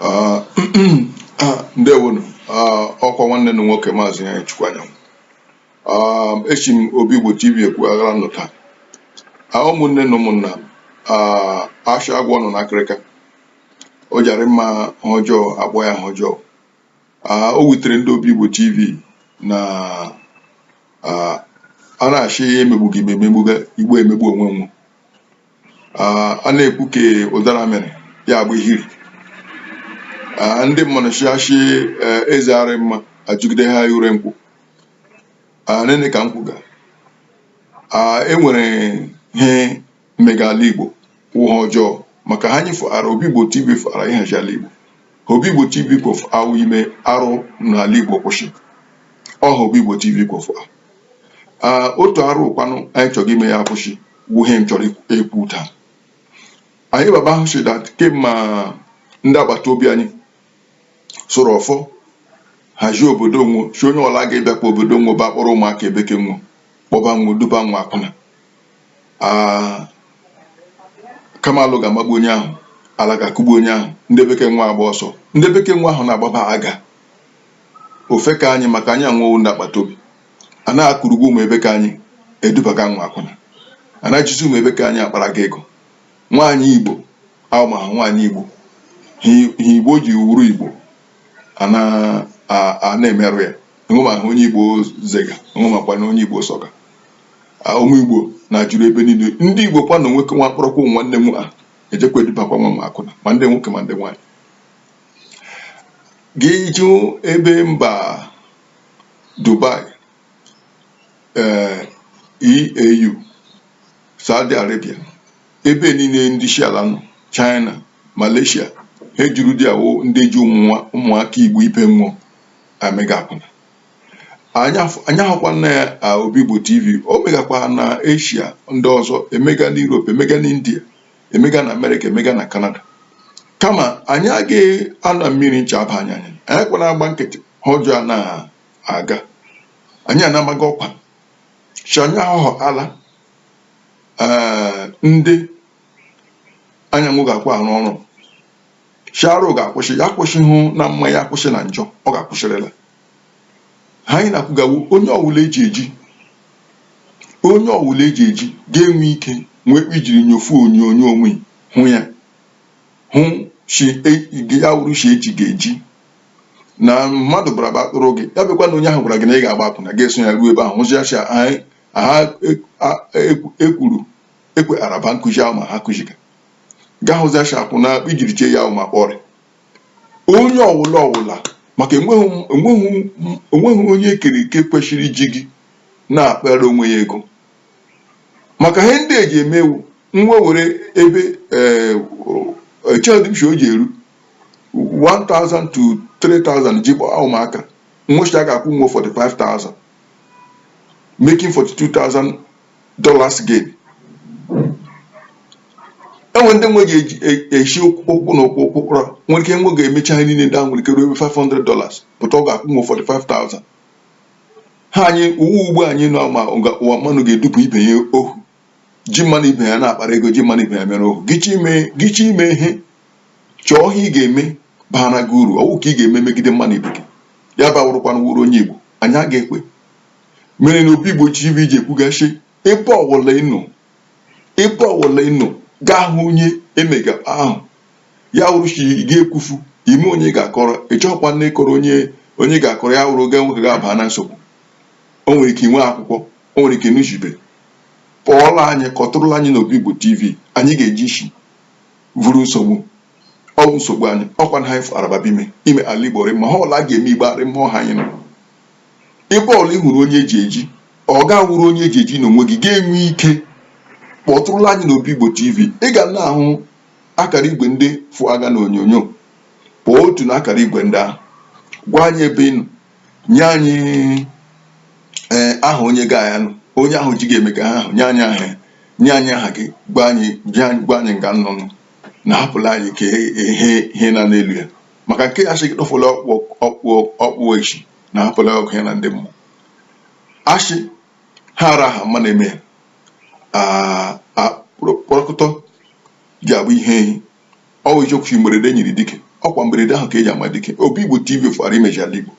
Ah, ah, ndewonu Ah, ọkwa nwanne unu nwoke maazị anyị chukwu anyanwụ Ah, eshi m obi igbo tv ekwu agara nụ taa Ah, ụmụnne na ụmụnna m ah, ashị agwọ nọ n'akịrịka o jara mma ihe ọjọọ akpọ ya ihe ọjọọ Ah, o wutere ndị obi igbo tv na ah, a na-ashị emegbughị m emegbuga igbo emegbu onwe wo Ah, a na-ekwu ka ụdara mere ya bụ ihiri Ah, ndị mmadụ chịachị eze arị mma ajụgide ha ure nkwụ Ah, nene ka nkwụ ga Ah, e nwere ihe mega ala igbo wụ ihe ọjọọ maka ihe anyị fụara obi igbo tv fụara ịhazi ala igbo ihe obi igbo tv kwọ fụa wụ ime arụ n'ala igbo kwụsị ọ ihe obi igbo tv kwọ fụa Ah, otu arụ kwanụ anyị chọrọ ime ya akwụsị wụ ihe m chọrọ ekwu taa anyị baba ahụ si dat kemma ndị agbata obi anyị suru ọfọ hazie obodo nwo sị onye ọla ga-abịakwa obodo nwo bịa kpọrọ ụmụaka ebe ke nwo kpọba nwo duba nwo akwụna kamalụ ga-amagbu onye ahụ ala ga-akụgbu onye ahụ ndị be ke nwo agba ọsọ ndị be ke nwo ahụ na-agbaba aga ofe ke anyị maka anyị na nwo wụ ndị agbata obi a na-akpọrọga ụmụ ebe ke anyị edubaga nwo akwụna a na-ejizi ụmụ ebe ke anyị akparaga ego nwaanyị igbo ahụ ma ha nwaanyị igbo ihe igbo ji wụrụ igbo a na-emerụ ya enwema ihe onye igbo zega enwemakwa ihe onye igbo sọga ụmụ igbo na-ejuru ebe niile ndị igbo kwa na nwoke nwa kpọrọkwa nwanne m a ejekwa edubakwa nwo akwụna ma ndị nwoke ma ndị nwaanyị gị jụ ebe mba Dubai ee EAU Saudi Arabia ebe niile ndị Asia ala nọ China Malaysia ihe juru dia wụ ndị ji ụmụaka Igbo ibe nwo amega akwụna anyị ahụkwana ya Obi Igbo TV o megakwa na Asia ndị ọzọ emega na Europe emega na India emega na amerịka emega na kanada kama anyị agaghị anọ mmiri ncha aba anyị anya anyị kwana agba nkịtị ihe ọjọọ a na-aga anyị anamaghị ọkwa chi anyị ahụhọ ala ee ndị anyị na nwo ga-akwụ arụ ọrụ shị arụ ga-akwụsị ya akwụsịhụ na mma ya akwụsị na njọ ọ ga-akwụsịrịla anyị na-akwụgawo onye ọwụla eji eji onye ọwụla eji eji ga-enwe ike nwee ijiri nyofu onyonyo onwe hụ ya hụ e, ya wụrụ shi eji gị eji na mmadụ bara ba atụrụ gị ya bịakwa na onye ahụ gwara gị na ị ga-agba akwụna ga-eso ya ruo ebe ahụ hụzi acha ha ekwuru e ekwe araba nkụzi ahụ ma ha kụziga gaa hụzi acha akwụna ijiri chee ya ahụ ma kpọrị onye ọwụla ọwụla maka enweghị m- enweghị m- enweghị onye ekere eke kwesịrị iji gị na-akpara onwe ya ego maka ihe ndị eji emewu nwe were ebe ee, o- o- echedụ m si o ji eru 1000 to 3000 ji gbaa ụmụaka nwe si a ga-akwụ nwe 45000 making 42000 dollars gain enwe ndị nwe ga-eji e- eshi ụkwụ na ụkwụ ụkwụ kpọrọ nwere ike nwe ga-emecha ha niile ndị ahụ nwere ike ruo ebe 500 dollars pụta ọ ga-akwụ nwe 45,000 ha anyị ụwa ugbu anyị nọ ma ụga- ụwa mmanụ ga-edupụ ibe ya ohu ji mmanụ ibe ya na-akpara ego ji mmanụ ibe ya mere ohu gịchi ime gịchi ime ihe chọọ ihe ị ga-eme baara gị uru ọwụ ka ị ga-eme megide mmanụ ibe gị ya bawụrụkwana wụrụ onye igbo anyị aga ekwe mere na obi igbo tv ji ekwuga sị ebe ọwụla ị nọ ebe ọwụla ị nọ gaa hụ onye emega ahụ ya wụrụ shi gị ekwufu ime onye ga-akọrọ ịchọkwa nne kọrọ onye onye ga-akọrọ ya wụrụ ga nwoke ga-aba na nsogbu o nwere ike inwe akwụkwọ o nwere ike n'uchibe pụọla anyị kpọtụrụla anyị n'obi igbo tv anyị ga-eji isi vụrụ nsogbu ọwụ nsogbu anyị ọkwa na anyị fụ araba bime ime ala igbo rị mma ha ọla a ga-eme igbo arị mma ọ ha anyị nọ ebe ọla ị hụrụ onye eji eji ọ ga-awụrụ onye eji eji n'onwe gị ga-enwe ike kpọtụrụla anyị n'obi Igbo TV ị ga na-ahụ akara igwe ndị fụtaga na onyonyo kpọọ otu na akara igwe ndị ahụ gwa anyị ebe ị nọ nye anyị ee eh, aha onye ga ya nụ onye ahụ ji gị eme ka ha ahụ nye anyị aha nye anyị aha gị gwa anyị gwa anyị nga ị nọ nụ na hapụla anyị ka ihe nọ n'elu ya maka nke ya sị gị tụfụla ọkpụ ọkpụ ọkpụ echi na hapụla ọkụ ya na ndị mmụọ asị ha ara ha mma na-eme ya a- a- kpọrọ- kpọrọkọtọ ji abụ ihe ehi ọ wụ eziokwu mberede nyiri dike ọkwa mberede ahụ ka eji ama dike obi igbo tv fara imeji ala igbo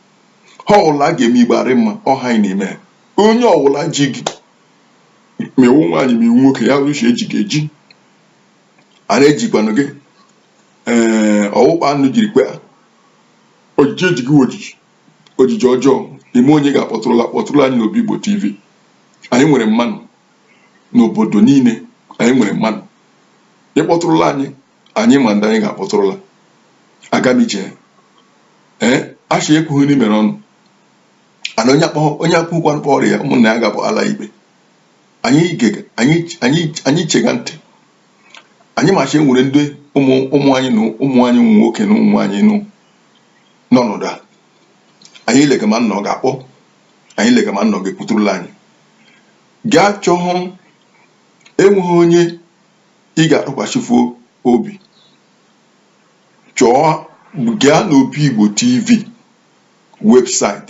ha ọwụla a ga-eme igbo arị mma ọ ha anyị na-eme ya onye ọwụla ji gị ma ị wụ nwaanyị ma ị wụ nwoke ya wụrụ shi eji gị eji a na-ejikwanụ gị ee ọwụkpa anụ jiri kwe a ojiji ejighị ojiji ojiji ọjọọ ime onye ga-akpọtụrụla kpọtụrụ anyị n'obi igbo tv anyị nwere mmanụ n'obodo niile anyị nwere mmanụ ị kpọtụrụla anyị anyị ma ndị anyị ga-akpọtụrụla aga m ije ee a shị ekwughị ni mere ọnụ ana onye akpọ onye akpụkwanụ kpọrọ ya ụmụnna ya ga-abụ ala ikpe anyị gege anyị anyị anyị chega ntị anyị ma shị e nwere ndị ụmụ ụmụ anyị na ụmụ anyị ụmụ nwoke na ụmụ nwaanyị nọ n'ọnọdụ a anyị lega ma ụnụ ga-akpọ anyị lega ma ụnụ ga-ekwuturula anyị gaa chọhụ enweghị onye ị ga-atụkwasịfu obi chọọ gaa n'obi igbo tv website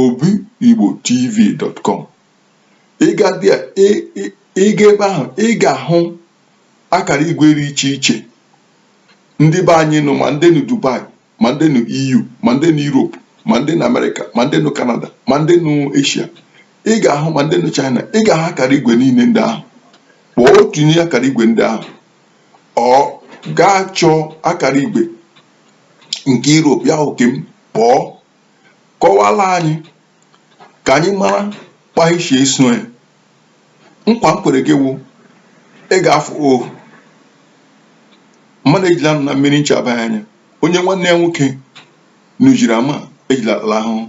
obi igbo tv dot com ị ga dị a ị ị ị ga ebe ahụ ị ga-ahụ akara igwe dị iche iche ndị be anyị nọ ma ndị nọ dubai ma ndị nọ eu ma ndị nọ europe ma ndị nọ amerịka ma ndị nọ kanada ma ndị nọ eshia ị ga-ahụ ma ndị nọ china ị ga-ahụ akara igwe niile ndị ahụ kpọọ otu n'ime akara igwe ndị ahụ or gaa chọọ akara igwe nke europe ya wụ nke m kpọọ kọwara anyị ka anyị mara kpahichie isonye nkwa m kwere gị wụ ị ga-afụ ohu mmadụ ejila nọ na mmiri ncha abaa anya onye nwanne ya nwoke na ujiri ama ejila ala ahụhụ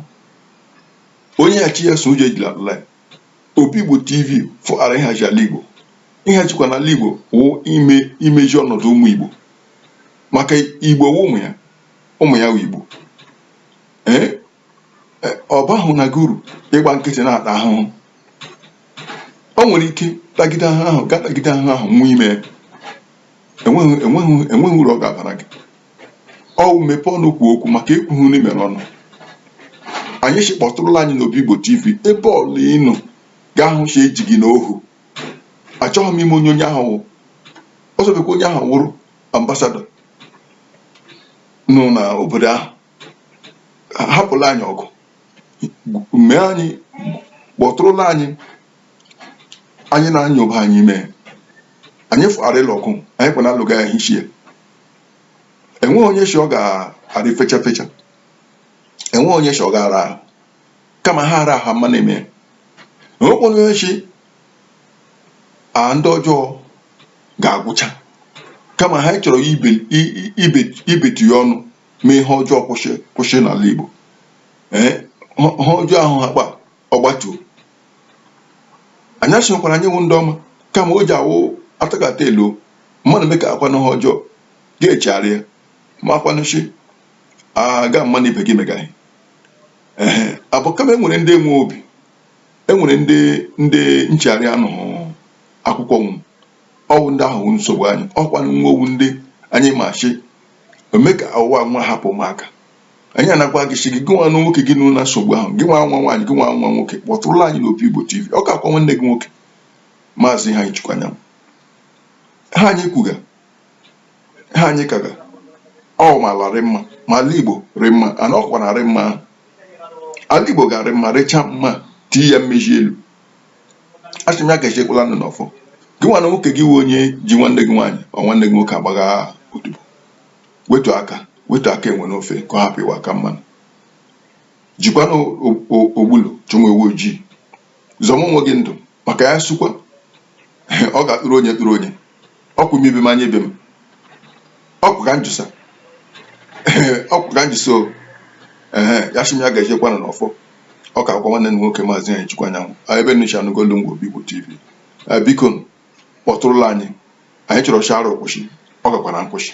onye ya chi ya so ụjọ ejila ala ya obi igbo tv fụtara ịhazi ala igbo ịhazikwa n'ala igbo wụ ime imeji ọnọdụ ụmụ igbo maka igbo wụ ụmụ ya ụmụ ya wụ Igbo ee e, ọ bahụ na gị uru ịgba nkịtị na-ata ahụhụ o nwere ike tagide ahụhụ ga tagide ahụhụ nwụọ ime ya enweghị enweghị enweghị uru ọ ga-abara gị ọwụ mepee ọnụ kwuo okwu maka ekwughị ni mere ọnụ anyị si kpọtụrụla anyị n'obi Igbo TV ebe ọla ị nọ gaa hụ sị e ji gị n'ohu achọghị m ịma onye onye ahụ wụ ọ sọbekwa onye ahụ wụrụ ambassador nọ na obodo ahụ hapụla anyị ọgụ mee anyị kpọtụrụla anyị anyị na ya lụba anyị mee anyị fụgharịla ọgụ anyị kwana alụga ya hichie enweghị onye shi ọ ga-adị fecha fecha enweghị onye shi ọ ga-ara ahụ kama ha ara ahụ mma na-eme enwekwana onye shi a ndị ọjọọ ga-agwụcha kama ihe anyị chọrọ ibe ibe ibetu ya ọnụ mee ihe ọjọọ kwụsị kwụsị n'ala Igbo ee ihe ọjọọ ahụ ha kpa ọgbatuo anyị asịkwara anyị wụ ndị ọma kama o ji awụ atakata elu mmadụ mee ka akwanụ ha ọjọọ ga-echegharị ya ma akwanụchi aga mmanụ ibe gị megaghị ee abụ kama e nwere ndị nwe obi e nwere ndị ndị nchegharị anụ akwụkwọ nwụ ọ wụ ndị ahụ wụ nsogbu anyị ọkwanụ ọ wụ ndị anyị ma sị eme ka ụwa nwa hapụ maka anyị anakwa gị sị gị gị nwa nwoke gị nọ na nsogbu ahụ gị nwa nwa nwaanyị gị nwa nwa nwoke kpọtụrụla anyị n'Obigbo TV ọ ka wụkwa nwanne gị nwoke maazị Iheanyịchukwu Anyanwụ ihe anyị kwuga ihe anyị kaga ọ wụ ma ala rị mma ma ala igbo rị mma ana ọkwa na arị mma ahụ ala igbo ga-arị mma rịcha mma tii ya mmeji elu asị m ya gazikwala unu n'ọfọ gị nwa nwoke gị wụ onye ji nwanne gị nwaanyị or nwanne gị nwoke agbaga odibo wetu aka wetu aka enwe n'ofe ka ọ hapụ ịwụ aka mmanụ jikwana ogbulu chọwa ewu ojii zọma onwe gị ndụ maka ya sukwa ọ ga-akpụrụ onye kpụrụ onye ọkwụ m ibe m anya ibe m ọkwụ ka njụsa ọkwụ ka njụsa o ee asị m ya gazikwana n'ọfọ ọ ka wụkwa nwanne unu nwoke maazị Anyịchukwu Anyanwụ a ebe unu si anụga olu m wụ Obigbo TV a biko nụ, kpọtụrụla anyị anyị chọrọ sị arụ kwụsị ọ gakwara nkwụsị